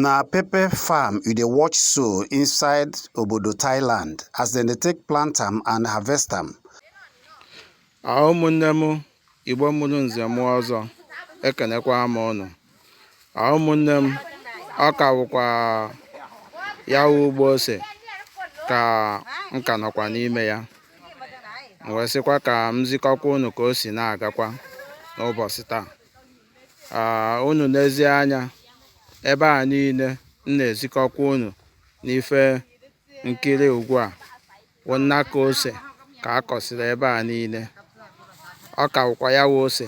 Na pepper farm you dey watch so inside obodo Thailand as dem dey take plant am and harvest am. Ah, ụmụnne m Igbo mụrụ nze mụọ ọzọ ekenekwa m ụnụ. Ah, ụmụnne m ọ ka wụkwa ya wụ ugbo ose ka m ka nọkwa n'ime ya m wee sịkwa ka m zikọkwa ụnụ ka o si na-agakwa n'ụbọsị taa unu nezie anya ebe a niile m na-ezikọkwa unu n'ife nkiri ugbu a wụ nnaka ose ka a kọsịrị ebe a niile ọ ka wụkwa ya wụ ose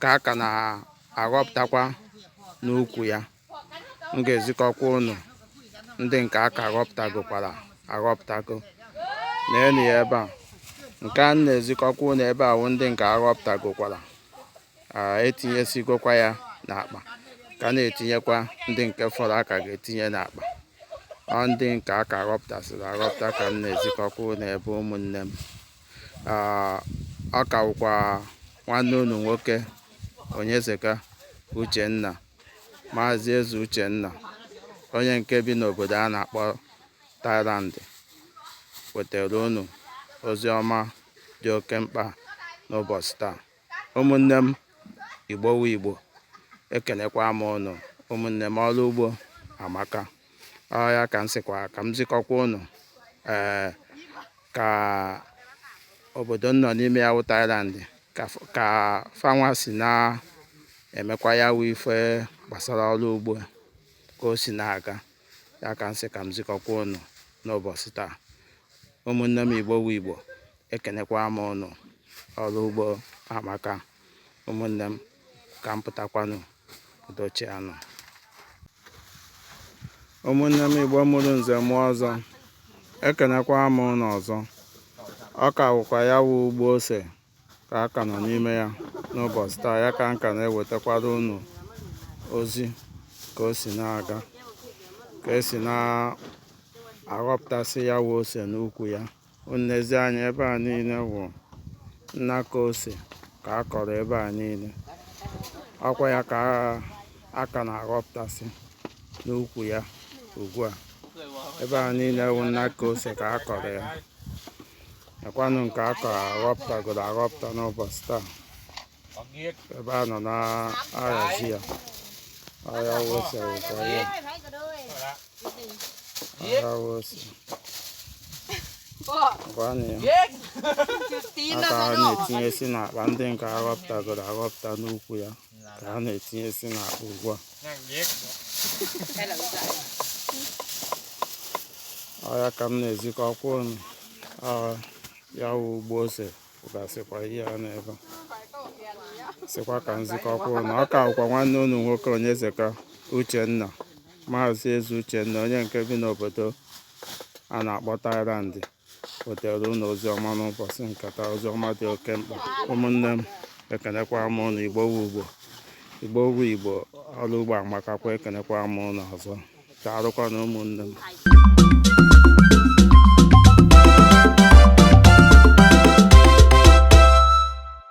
ka a ka na-aghọpụtakwa n'ukwu ya m ga-ezikọkwa ụnụ ndị nke a ka ghọpụtagokwara aghọpụtago neenu ya ebe a nke m na-ezikọkwa ụnụ ebe a wụ ndị nke aghọpụtagokwara etinyesigokwa ya n'akpa ka na-etinyekwa ndị nke fọrọ a ka ga-etinye n'akpa ọ ndị nke a ka ghọpụtasịrị aghọpụta ka m na-ezikọkwa ụnụ ebe ụmụnne m ọ ka wụkwa nwanne unu nwoke Onyezeka Uchenna Maazị Eze Uchenna onye nke bi n'obodo a na-akpọ Thailand wetara unu ozi ọma dị oke mkpa n'ụbọsị taa ụmụnne m Igbo wụ Igbo ekenekwa m ụnụ ụmụnne m ọrụ ugbo amaka ya ka m sịkwa ka m zikọkwa ụnụ ee ka obodo m nọ n'ime ya wụ Thailand ka fanwa si na-emekwa ya wụ ife gbasara ọrụ ugbo ka o si na-aga ya ka m sị ka m zikọkwa ụnụ n'ụbọsị taa ụmụnne m Igbo wụ Igbo ekenekwa m ụnụ ọrụ ugbo amaka ụmụnne m ka m pụtakwanụ udo chịanụ ụmụnne m Igbo mụrụ nze mụọ ọzọ ekenekwa m unu ọzọ ọ ka wụkwa ya wụ ugbo ose ka a ka nọ n'ime ya n'ụbọsị taa ya ka m ka na-ewetakwara unu ozi ka o si na-aga ka e si na-aghọpụtasị ya wụ ose n'ukwu ya unu nezie anya ebe a niile wụ nnaka ose ka a kọrọ ebe a niile ọkwa ya ka a ka na-aghọpụtasị n'ukwu ya ugbu a ebe a niile wụ nnaka ose ka a kọrọ ya nekwanụ nke a kọrọ aghọpụtagoro aghọpụta n'ụbọsị taa ebe a nọ na-ahazi ya ọya wụ ose wụkwa ya ọya wụ ose gwanụ ya ka ha na-etinyesi n'akpa ndị nke a ghọpụtagoro aghọpụta n'ukwu ya ka ha na-etinyesi n'akpa ugbu a ọya ka m na-ezikọkwa unu ya wụ ugbo ose gasịkwa ihe a n'ebe a sịkwa ka m zikọkwa unu ọ ka wụkwa nwanne unu nwoke Onyezeka Uchenna maazị Eze Uchenna onye nke bi n'obodo a na-akpọ Thailand wetara unu ozi ọma n'ụbọchị nke taa ozi ọma dị oke mkpa ụmụnne m ekenekwa m unu Igbo wụ Igbo Igbo wụ Igbo ọrụ ugbo amakakwa ekenekwa m unu ọzọ daalụkwanụ ụmụnne m